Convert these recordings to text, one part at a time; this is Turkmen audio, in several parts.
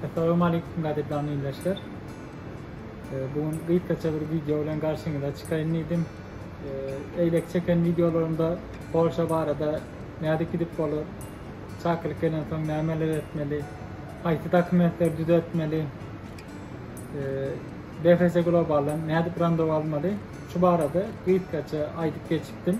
Assalamu aleykum gadyrdan ildeşler. Bu gün gysgaça bir video bilen garşyňyza çykaýyn diýdim. Eýleki çeken videolarymda Polşa barada nädip gidip bolar, çakylyk gelensoň nämeler etmeli, haýsy dokumentleri düzetmeli, BFS Globaldan nädip randewu almaly, şu barada gysgaça aýdyp geçipdim.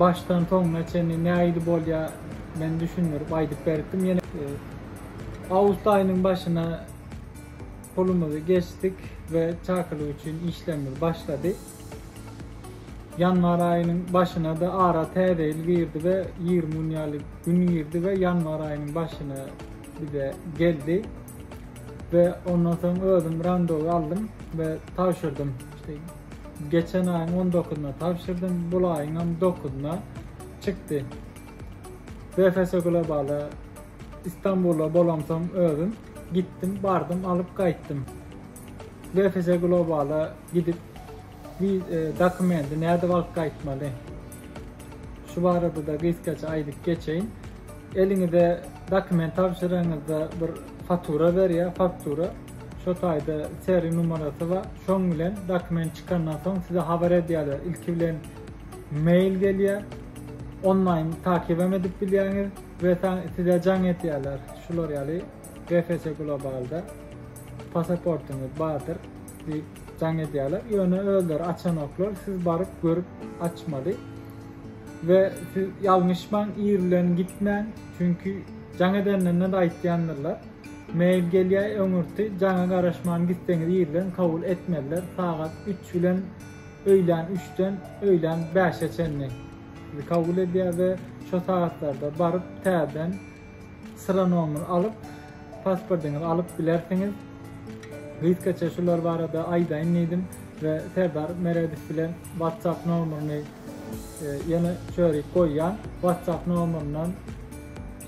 Başdan soňuna çenli nähili bolýa men düşündirip aýdyp beripdim ýene awgust aýynyň başyna pulumyzy geçdik we çakylyk üçin işlerimiz başlady. Ýanwar aýynyň başynada ara täze ýyl girdi we 20 gün ýaly gün girdi we ýanwar aýynyň başyna bize geldi we ondan soň özüm randowy aldym we tabşyrdym. Geçen aýyň on dokuzyna tabşyrdym, bul aýyňam dokuzyna çykdy. BFS Globala Istanbula bolamsoň özüm gitdim, bardym, alyp gaýtdym. BFS Globala gidip e, dokumenti nädip alyp gaýtmaly? Şu barada-da gysgaça aýdyp geçeýin. Eliňize dokument tabşyraňyzda bir fatura berýär, faktura. Şo taýda seri numarasy bar. Şoň bilen dokument çykandan soň size habar edýärler. Ilki bilen mail gelýär. Onlaýn takybam edip bilýäňiz we size jaň etýärler. Şular ýaly GFC Globalda pasaportyňyz bardyr diýip jaň edýärler. Ýöne özleri açanoklar, siz baryp görüp açmaly. We siz ýalňyşmaň ir bilen gitmäň çünki jaň edenlerine-de aýtýandyrlar. Mail gelýär öňürti jaňa garaşman gitseňiz ir bilen kabul etmezler sagat üç bilen öýlän üçden öýlän bäşe çenli sizi kabul edýär we şo sagatlarda baryp täzeden Syra nomer alyp pasportyňyzy alyp bilersiňiz. Gysgaça şular barada aýdaýyn diýdim we Serdar Meredow bilen WhatsApp nomerini e, ýene çörik goýýan. WhatsApp nomeriniň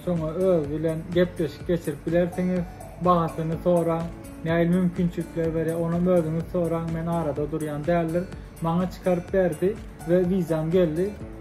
şoňa öz bilen gepleşik geçirip bilersiňiz. Bahasyny soraň, näil mümkinçilikler berýär, onam özüňiz soraň, men arada durýan däldir. Maňa çykaryp berdi we wizam geldi.